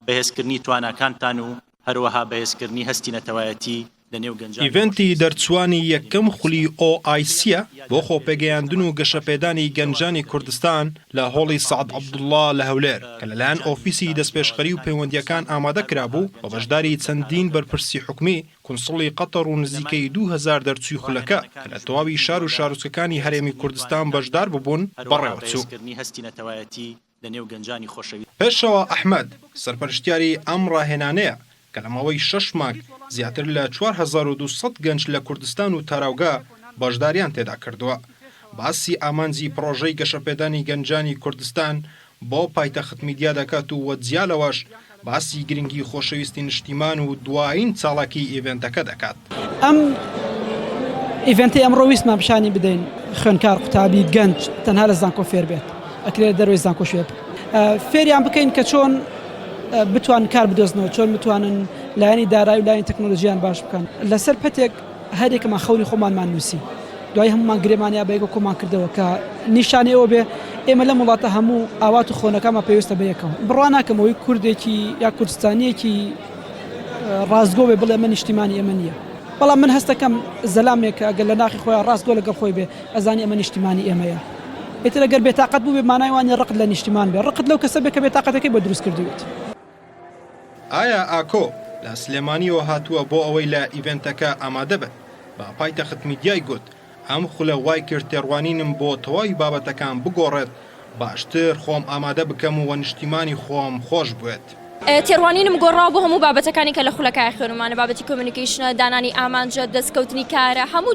بەهێزکردنی تواناکانتان و هەروەها بەهێزکردنی هەستی نەتەوایەتی لە نێو گەنجان بۆ خۆشەویستی ئیڤێنتی دەرچووانی یەکەم خولی OIC ە بۆ خۆپێگەیاندن و گەشەپێدانی گەنجانی کوردستان لە هۆڵی سەعد عەبدوڵڵا لە هەولێر کە لەلایەن ئۆفیسی دەستپێشخەری و پەیوەندییەکان ئامادە کرابوو و بەشداری چەندین بەرپرسی حکومی، کونسڵی قەتەڕ و نزیکەی دوو هەزار دەرچووی خولەکە کە لە تەواوی شار و شارۆچکەکانی هەرێمی کوردستان بەشدار بووبوون، بەڕێوەچوو. لەنێو گەنجانی خۆشەویست. پێشەوا ئەحمەد، سەرپەرشتیاری ئەم ڕاهێنانەیە، کە لە ماوەی شەش مانگ زیاتر لە چوار هەزار و دوو سەد گەنج لە کوردستان و تاراوگە بەشدارییان تێدا کردووە، باسی ئامانجی پڕۆژەی گەشەپێدانی گەنجانی کوردستان بۆ پایتەختمیدیا دەکات و جیا لەوەش باسی گرنگی خۆشەویستی نشتیمان و دوایین چاڵاکی ئیڤێنتەکە دەکات. ئەم ئیڤێنتەی ئەمڕۆ ویستمان پیشانی بدەین خوێندکار قوتابی گەنج تەنها لە زانکۆ فێر بێت ئەکرێت دەروی زانکۆ شوێ فێریان بکەین کە چۆن بتوان کار بدۆزنەوە چۆن بتوانن لایانی دارای و لایەن تەکنۆلژیان باش بکەن لەسەر پەتێک هەریەکەمان خەونی خۆمانمان نووسی، دوای هەموومان گرێمان یا بەیەکەوە کۆمان کردەوە، کە نیشانەی ئەوە بێ ئێمە لەم وڵاتە هەموو ئاوات و خۆنەکانمان پەیوەستە بە یەکەوە. بڕوا ناکەم ئەوەی کوردێکی یا کوردستانییەکی ڕاستگۆ بێ بڵێ ئەمە نیشتیمانی ئێمە نییە، بەڵام من هەست دەکەم زەلامێک کە ئەگەر لە ناخی خۆیا ڕاستگۆ لەگەڵ خۆی بێ ئەزانی ئەمە نیشتیمانی ئێمەیە. ئیتر ئەگەر بێتاقەت بووبێ مانای وا نییە ڕقت لە نیشتیمان بێ، ڕقت لەو کەسە بێ کە بێتاقەتەکەی بۆ دروست کردوویت. ئایا ئاکۆ لە سلێمانییەوە هاتووە بۆ ئەوەی لە ئیڤێنتەکە ئامادە بن؟ بە پایتەخت میدیای گوت، ئەم خولە وای کرد تێڕوانینم بۆ تەواوی بابەتەکان بگۆڕێت، باشتر خۆم ئامادە بکەم و نیشتیمانی خۆم خۆش بوێت. تێڕوانینم گۆڕاوە بۆ هەموو بابەتەکانی کە لە خولەکە خوێنمانە، بابەتی کۆمیونیکەیشنە، دانانی ئامانجە، دەستکەوتنی کارە، هەموو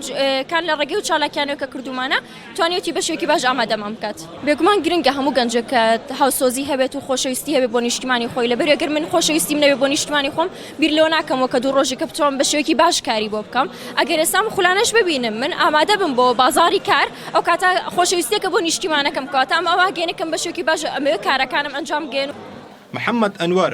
کان لە ڕێگەی ئەو چالاکییانەوە کە کردوومانە. توانیویەتی بەشێکی باش ئامادەمان بکات. بێگومان گرنگە هەموو گەنجێک کە هاوسۆزی هەبێت و خۆشەویستی هەبێت بۆ نیشتیمانی خۆی، لەبەری گەر من خۆشەویستیم نەبێت بۆ نیشتیمانی خۆم بیر لەوە ناکەمەوە کە دوو ڕۆژێکە بتوانم بە شێوەیەکی باش کاری بۆ بکەم، ئەگەر ئێستا ئەم خولانەش ببینم من ئامادە بم بۆ بازاڕی کار ئەو کاتە خۆشەویستیەکە بۆ نیشتیمانەکەم کەواتە ئەم ئەوە گەینە کەم بە شێوەیەکی باش ئەمەوێت کارەکانم ئەنجام بگەیەنم. محەمەد ئەنوەر،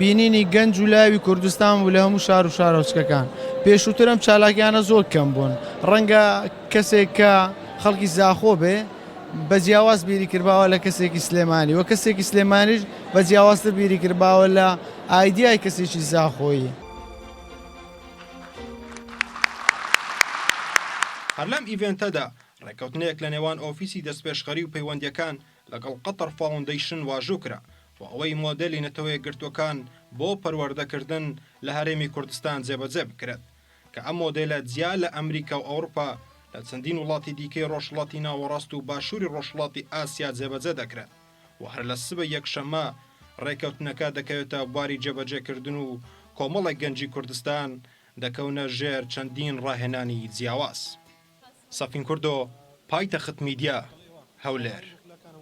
بینینی گەنج و لاوی کوردستان بوو لە هەموو شار و شارۆچکەکان. پێشووتر ئەم چالاکیانە زۆر کەم بوون، ڕەنگە کەسێک کە خەڵکی زاخۆ بێ بە جیاواز بیری کردباوە لە کەسێکی سلێمانی و کەسێکی سلێمانیش بە جیاوازتر بیری کردباوە لە ئایدیای کەسێکی زاخۆیی. هەر لەم ئیڤێنتەدا ڕێککەوتنێک لە نێوان ئۆفیسی دەستپێشخەری و پەیوەندییەکان لەگەڵ قەتەڕ فاوندەیشن واژۆ کرا، و ئەوەی مۆدێلی نەتەوەیەکگرتووەکان بۆ پەروەردەکردن لە هەرێمی کوردستان جێبەجێ بکرێت، کە ئەم مۆدێلە جیا لە ئەمریکا و ئەوروپا لە چەندین وڵاتی دیکەی ڕۆژهەڵاتی ناوەڕاست و باشووری ڕۆژهەڵاتی ئاسیا جێبەجێ دەکرێت و هەر لە سبەی یەکشەممە ڕێککەوتنەکە دەکەوێتە بواری جێبەجێکردن و کۆمەڵێک گەنجی کوردستان دەکەونە ژێر چەندین ڕاهێنانی جیاواز. سەفین کوردۆ، پایتەخت میدیا، هەولێر.